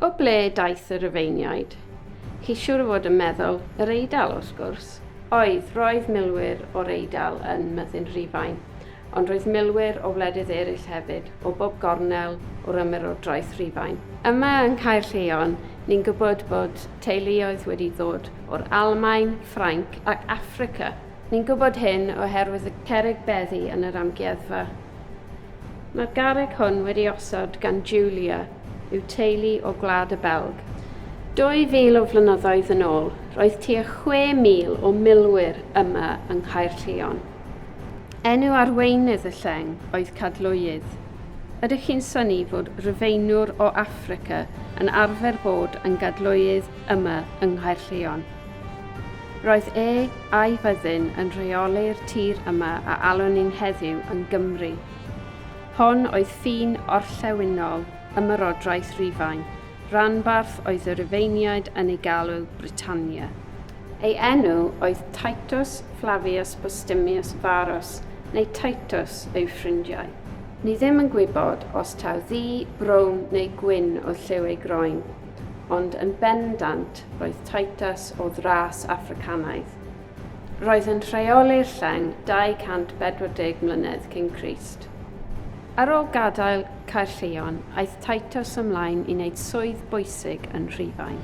O ble daeth y Rufeiniaid? Chi siwr o fod yn meddwl yr Eidal, wrth gwrs. Oedd, roedd milwyr o'r Eidal yn myddin Rhufain, ond roedd milwyr o wledydd eraill hefyd, o bob gornel o'r ymerodraeth Rhufain. Yma yng Nghaerlleon, ni'n gwybod bod teuluoedd wedi ddod o'r Almaen, Ffrainc ac Affrica. Ni'n gwybod hyn oherwydd y cerrig beddi yn yr amgueddfa. Mae'r garreg hwn wedi osod gan Julia yw teulu o Gwlad y Belg. 2,000 o flynyddoedd yn ôl, roedd tua 6,000 o milwyr yma yng Nghaerllion. Enw arweinydd y lleng oedd Cadlwydd. Ydych chi'n syni fod Rufeinwr o Affrica yn arfer bod yn Gadlwydd yma yng Nghaerllion? Roedd e a'i fyddin yn rheoli'r tir yma a alwn ni'n heddiw yn Gymru. Hon oedd ffin orllewinol Ymerodraeth Rufain, ranbarth oedd y Rufeiniaid yn ei galw Britannia. Ei enw oedd Titus Flavius Postumius Varus, neu Titus yw ffrindiau. Ni ddim yn gwybod os taw ddu, brown neu gwyn oedd lliw ei groen, ond yn bendant Roedd Titus o ddras Affricanaidd. Roedd yn rheoli'r lleng 240 mlynedd cyn Crist. Ar ôl gadael Caerllion, aeth Titus ymlaen i wneud swydd bwysig yn Rhufain.